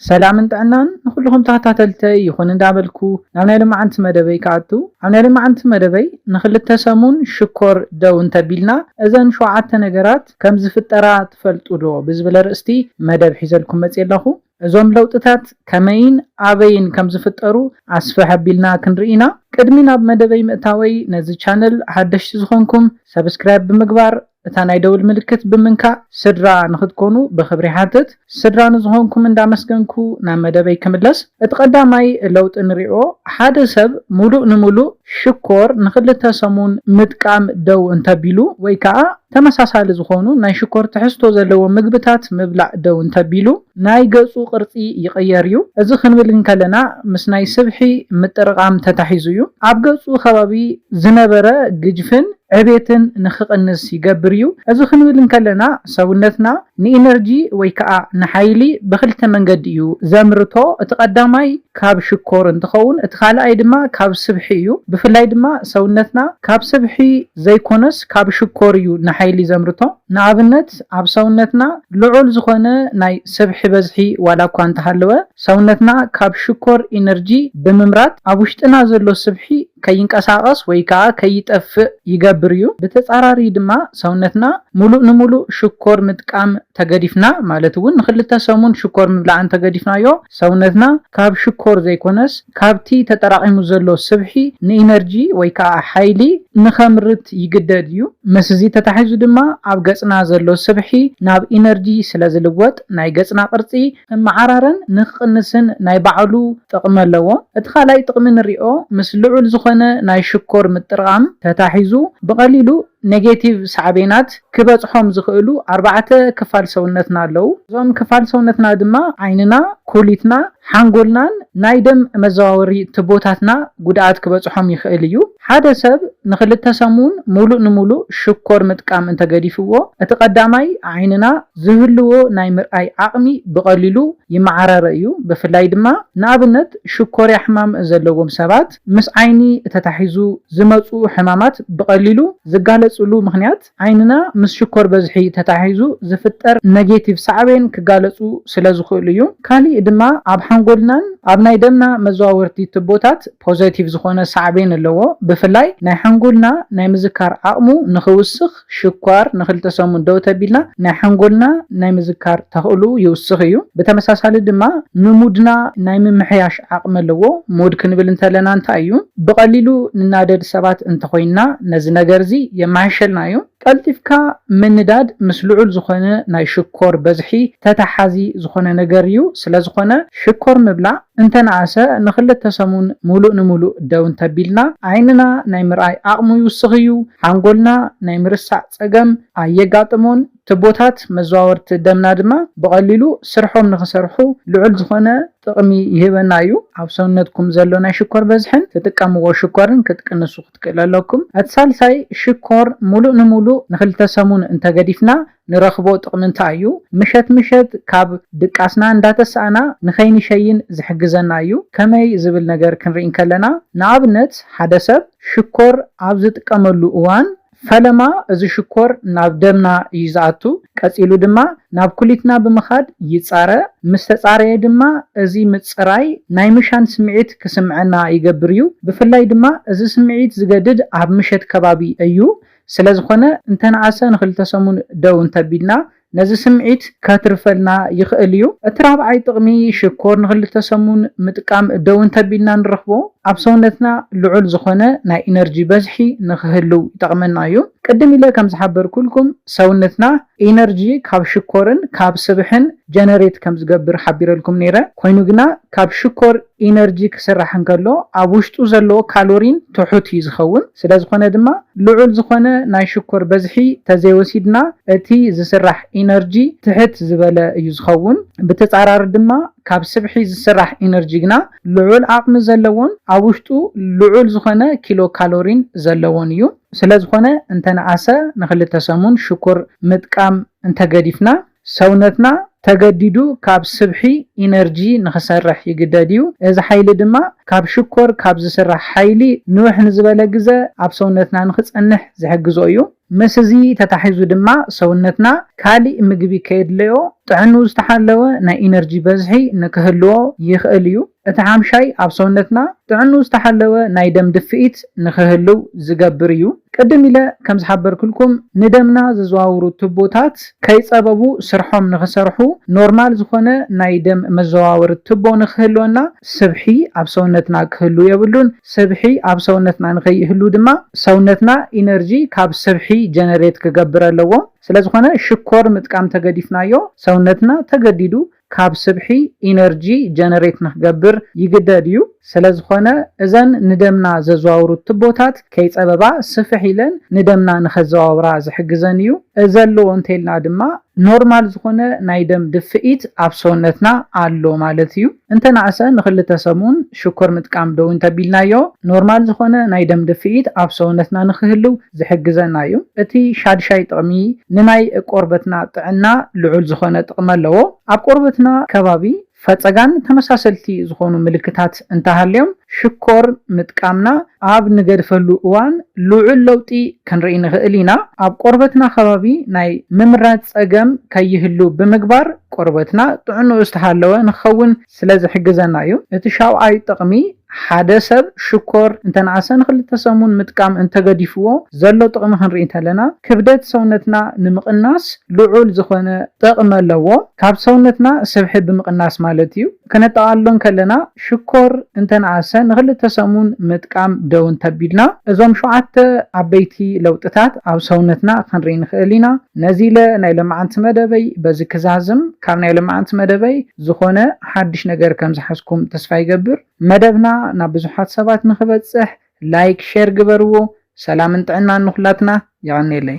ሰላምን ጥዕናን ንኹሉኹም ተኸታተልተይ ይኹን እንዳበልኩ ናብ ናይ ሎማዓንቲ መደበይ ክኣቱ ኣብ ናይ ሎማዓንቲ መደበይ ንኽልተ ሰሙን ሽኮር ደው እንተቢልና እዘን ሸውዓተ ነገራት ከምዝፍጠራ ትፈልጡ ዶ ብዝብል ኣርእስቲ መደብ ሒዘልኩም መፅየ ኣለኹ እዞም ለውጥታት ከመይን ኣበይን ከምዝፍጠሩ ኣስፍሕ ኣቢልና ክንርኢ ኢና ቅድሚ ናብ መደበይ ምእታወይ ነዚ ቻነል ሓደሽቲ ዝኾንኩም ሰብስክራይብ ብምግባር እታ ናይ ደውል ምልክት ብምንካእ ስድራ ንክትኮኑ ብክብሪ ይሓትት። ስድራ ንዝኾንኩም እንዳመስገንኩ ናብ መደበይ ክምለስ። እቲ ቀዳማይ ለውጢ ንሪኦ ሓደ ሰብ ሙሉእ ንሙሉእ ሽኮር ንክልተ ሰሙን ምጥቃም ደው እንተቢሉ ወይ ከዓ ተመሳሳሊ ዝኾኑ ናይ ሽኮር ትሕዝቶ ዘለዎም ምግብታት ምብላዕ ደው እንተቢሉ። ናይ ገጹ ቅርጺ ይቕየር እዩ። እዚ ክንብል እንከለና ምስ ናይ ስብሒ ምጥርቓም ተታሒዙ እዩ። ኣብ ገጹ ከባቢ ዝነበረ ግጅፍን ዕቤትን ንክቕንስ ይገብር እዩ። እዚ ክንብል እንከለና ሰውነትና ንኢነርጂ ወይ ከኣ ንሓይሊ ብክልተ መንገዲ እዩ ዘምርቶ። እቲ ቀዳማይ ካብ ሽኮር እንትኸውን እቲ ካልኣይ ድማ ካብ ስብሒ እዩ። ብፍላይ ድማ ሰውነትና ካብ ስብሒ ዘይኮነስ ካብ ሽኮር እዩ ንሓይሊ ዘምርቶ። ንኣብነት። ኣብ ሰውነትና ልዑል ዝኾነ ናይ ሰብሒ በዝሒ ዋላኳ እንተሃለወ ሰውነትና ካብ ሽኮር ኢነርጂ ብምምራት ኣብ ውሽጥና ዘሎ ስብሒ ከይንቀሳቐስ ወይ ከኣ ከይጠፍእ ይገብር እዩ። ብተጻራሪ ድማ ሰውነትና ሙሉእ ንሙሉእ ሽኮር ምጥቃም ተገዲፍና ማለት እውን ንክልተ ሰሙን ሽኮር ምብላዕ እንተገዲፍናዮ ሰውነትና ካብ ሽኮር ዘይኮነስ ካብቲ ተጠራቒሙ ዘሎ ስብሒ ንኢነርጂ ወይ ከኣ ሓይሊ ንኸምርት ይግደድ እዩ። ምስዚ ተታሒዙ ድማ ኣብ ገጽና ዘሎ ስብሒ ናብ ኢነርጂ ስለዝልወጥ ናይ ገጽና ቅርጺ ክመዓራረን ንክቕንስን ናይ ባዕሉ ጥቕሚ ኣለዎ። እቲ ካልኣይ ጥቕሚ ንሪኦ ምስ ልዑል ዝኾነ ናይ ሽኮር ምጥርቓም ተታሒዙ ብቐሊሉ ኔጌቲቭ ሳዕቤናት ክበጽሖም ዝኽእሉ ኣርባዕተ ክፋል ሰውነትና ኣለዉ። እዞም ክፋል ሰውነትና ድማ ዓይንና፣ ኩሊትና፣ ሓንጎልናን ናይ ደም መዘዋወሪ ትቦታትና ጉድኣት ክበጽሖም ይኽእል እዩ። ሓደ ሰብ ንኽልተ ሰሙን ሙሉእ ንሙሉእ ሽኮር ምጥቃም እንተገዲፍዎ፣ እቲ ቀዳማይ ዓይንና ዝህልዎ ናይ ምርኣይ ዓቕሚ ብቐሊሉ ይመዓራረ እዩ። ብፍላይ ድማ ንኣብነት ሽኮርያ ሕማም ዘለዎም ሰባት። ምስ ዓይኒ እተታሒዙ ዝመጽኡ ሕማማት ብቐሊሉ ዝጋለጽሉ ምኽንያት ዓይንና ምስ ሽኮር በዝሒ ተታሒዙ ዝፍጠር ነጌቲቭ ሳዕቤን ክጋለጹ ስለ ዝኽእሉ እዩ። ካሊእ ድማ ኣብ ሓንጎልናን ኣብ ናይ ደምና መዘዋወርቲ ትቦታት ፖዘቲቭ ዝኾነ ሳዕቤን ኣለዎ ብፍላይ ናይ ሓንጎልና ናይ ምዝካር ዓቕሙ ንኽውስኽ፣ ሽኳር ንክልተ ሰሙን ደው ተቢልና ናይ ሓንጎልና ናይ ምዝካር ተኽእልኡ ይውስኽ እዩ። ብተመሳሳሊ ድማ ንሙድና ናይ ምምሕያሽ ዓቕሚ ኣለዎ። ሙድ ክንብል እንተለና እንታይ እዩ? ብቐሊሉ ንናደድ ሰባት እንተኾይንና ነዚ ነገር እዚ የማሕይሸልና እዩ። ቀልጢፍካ ምንዳድ ምስ ልዑል ዝኾነ ናይ ሽኮር በዝሒ ተተሓሓዚ ዝኾነ ነገር እዩ። ስለዝኾነ ሽኮር ምብላዕ እንተነኣሰ ንክልተ ሰሙን ሙሉእ ንሙሉእ ደው እንተቢልና ዓይንና ናይ ምርኣይ ዓቕሙ ይውስኽ እዩ። ሓንጎልና ናይ ምርሳዕ ጸገም ኣየጋጥሞን፣ ትቦታት መዘዋወርቲ ደምና ድማ ብቐሊሉ ስርሖም ንኽሰርሑ ልዑል ዝኾነ ጥቕሚ ይህበና እዩ። ኣብ ሰውነትኩም ዘሎ ናይ ሽኮር በዝሕን ትጥቀምዎ ሽኮርን ክትቅንሱ ክትክእሉ ኣለኩም። እቲ ሳልሳይ ሽኮር ምሉእ ንምሉእ ንኽልተ ሰሙን እንተገዲፍና ንረኽቦ ጥቕሚ እንታይ እዩ? ምሸት ምሸት ካብ ድቃስና እንዳተሳእና ንኸይንሸይን ዝሕግዘና እዩ። ከመይ ዝብል ነገር ክንርኢ እንከለና፣ ንኣብነት ሓደ ሰብ ሽኮር ኣብ ዝጥቀመሉ እዋን፣ ፈለማ እዚ ሽኮር ናብ ደምና እዩ ዝኣቱ፣ ቀጺሉ ድማ ናብ ኩሊትና ብምኻድ ይጻረ፣ ምስ ተጻረየ ድማ እዚ ምጽራይ ናይ ምሻን ስምዒት ክስምዐና ይገብር እዩ። ብፍላይ ድማ እዚ ስምዒት ዝገድድ ኣብ ምሸት ከባቢ እዩ። ስለዝኾነ እንተነኣሰ ንክልተ ሰሙን ደው እንተቢልና ነዚ ስምዒት ከትርፈልና ይኽእል እዩ። እቲ ራብዓይ ጥቕሚ ሽኮር ንክልተ ሰሙን ምጥቃም ደው እንተቢልና ንረኽቦ ኣብ ሰውነትና ልዑል ዝኾነ ናይ ኢነርጂ በዝሒ ንክህልው ይጠቕመና እዩ። ቅድም ኢለ ከምዝሓበርኩልኩም ሰውነትና ኢነርጂ ካብ ሽኮርን ካብ ስብሕን ጀነሬት ከም ዝገብር ሓቢረልኩም ነይረ። ኮይኑ ግና ካብ ሽኮር ኢነርጂ ክስራሕ እንከሎ ኣብ ውሽጡ ዘለዎ ካሎሪን ትሑት እዩ ዝኸውን። ስለ ዝኾነ ድማ ልዑል ዝኾነ ናይ ሽኮር በዝሒ ተዘይወሲድና እቲ ዝስራሕ ኢነርጂ ትሕት ዝበለ እዩ ዝኸውን። ብተፃራሪ ድማ ካብ ስብሒ ዝስራሕ ኢነርጂ ግና ልዑል ዓቕሚ ዘለዎን ኣብ ውሽጡ ልዑል ዝኾነ ኪሎ ካሎሪን ዘለዎን እዩ። ስለዝኾነ እንተነኣሰ ንክልተ ሰሙን ሽኮር ምጥቃም እንተገዲፍና ሰውነትና ተገዲዱ ካብ ስብሒ፣ ኢነርጂ፣ ንክሰርሕ ይግደድ እዩ። እዚ ሓይሊ ድማ ካብ ሽኮር ካብ ዝስራሕ ሓይሊ ንውሕ ንዝበለ ግዘ ኣብ ሰውነትና ንክፀንሕ ዝሕግዞ እዩ። ምስ እዚ ተታሒዙ ድማ ሰውነትና ካሊእ ምግቢ ከየድለዮ ጥዕንኡ ዝተሓለወ ናይ ኢነርጂ በዝሒ ንክህልዎ ይኽእል እዩ። እቲ ሓምሻይ ኣብ ሰውነትና ጥዕንኡ ዝተሓለወ ናይ ደም ድፍኢት ንኽህልው ዝገብር እዩ። ቅድም ኢለ ከም ዝሓበርኩልኩም ንደምና ዘዘዋውሩ ቱቦታት ከይጸበቡ ስርሖም ንኽሰርሑ ኖርማል ዝኾነ ናይ ደም መዘዋወሪ ቱቦ ንኽህልወና ስብሒ ኣብ ሰውነትና ክህሉ የብሉን። ስብሒ ኣብ ሰውነትና ንኸይህሉ ድማ ሰውነትና ኢነርጂ ካብ ስብሒ ጀነሬት ክገብር ኣለዎ። ስለዝኾነ ሽኮር ምጥቃም ተገዲፍናዮ ሰውነትና ተገዲዱ ካብ ስብሒ ኢነርጂ ጀነሬት ንክገብር ይግደድ እዩ። ስለዝኾነ እዘን ንደምና ዘዘዋውሩ ትቦታት ከይፀበባ ስፍሕ ኢለን ንደምና ንከዘዋውራ ዝሕግዘን እዩ። እዚ ኣለዎ እንተይልና ድማ ኖርማል ዝኾነ ናይ ደም ድፍኢት ኣብ ሰውነትና ኣሎ ማለት እዩ። እንተነኣሰ ንክልተ ሰሙን ሽኮር ምጥቃም ደው እንተቢልናዮ ኖርማል ዝኾነ ናይ ደም ድፍኢት ኣብ ሰውነትና ንክህልው ዝሕግዘና እዩ። እቲ ሻድሻይ ጥቕሚ ንናይ ቆርበትና ጥዕና ልዑል ዝኾነ ጥቕሚ ኣለዎ። ኣብ ቆርበትና ከባቢ ፈፀጋን ተመሳሰልቲ ዝኾኑ ምልክታት እንተሃልዮም ሽኮር ምጥቃምና ኣብ ንገድፈሉ እዋን ልዑል ለውጢ ክንርኢ ንኽእል ኢና። ኣብ ቆርበትና ከባቢ ናይ ምምራዝ ፀገም ከይህሉ ብምግባር ቆርበትና ጥዕንኡ ዝተሃለወ ንክኸውን ስለ ዝሕግዘና እዩ። እቲ ሻውዓይ ጥቕሚ ሓደ ሰብ ሽኮር እንተንኣሰ ንክልተ ሰሙን ምጥቃም እንተገዲፍዎ ዘሎ ጥቕሚ ክንርኢ እንተለና ክብደት ሰውነትና ንምቕናስ ልዑል ዝኾነ ጥቕሚ ኣለዎ። ካብ ሰውነትና ስብሒ ብምቕናስ ማለት እዩ። ከነጠቓልሎ እንከለና ሽኮር እንተንኣሰ ንክልተ ሰሙን ምጥቃም ደው እንተቢልና እዞም ሸውዓተ ዓበይቲ ለውጥታት ኣብ ሰውነትና ክንርኢ ንክእል ኢና። ነዚለ ናይ ለማዓንቲ መደበይ በዚ ክዛዝም። ካብ ናይ ለማዓንቲ መደበይ። ዝኾነ ሓድሽ ነገር ከም ዝሓዝኩም ተስፋ ይገብር። መደብና ናብ ብዙሓት ሰባት ንኽበጽሕ ላይክ ሼር ግበርዎ። ሰላምን ጥዕናን ንኹላትና። የቐኔለይ።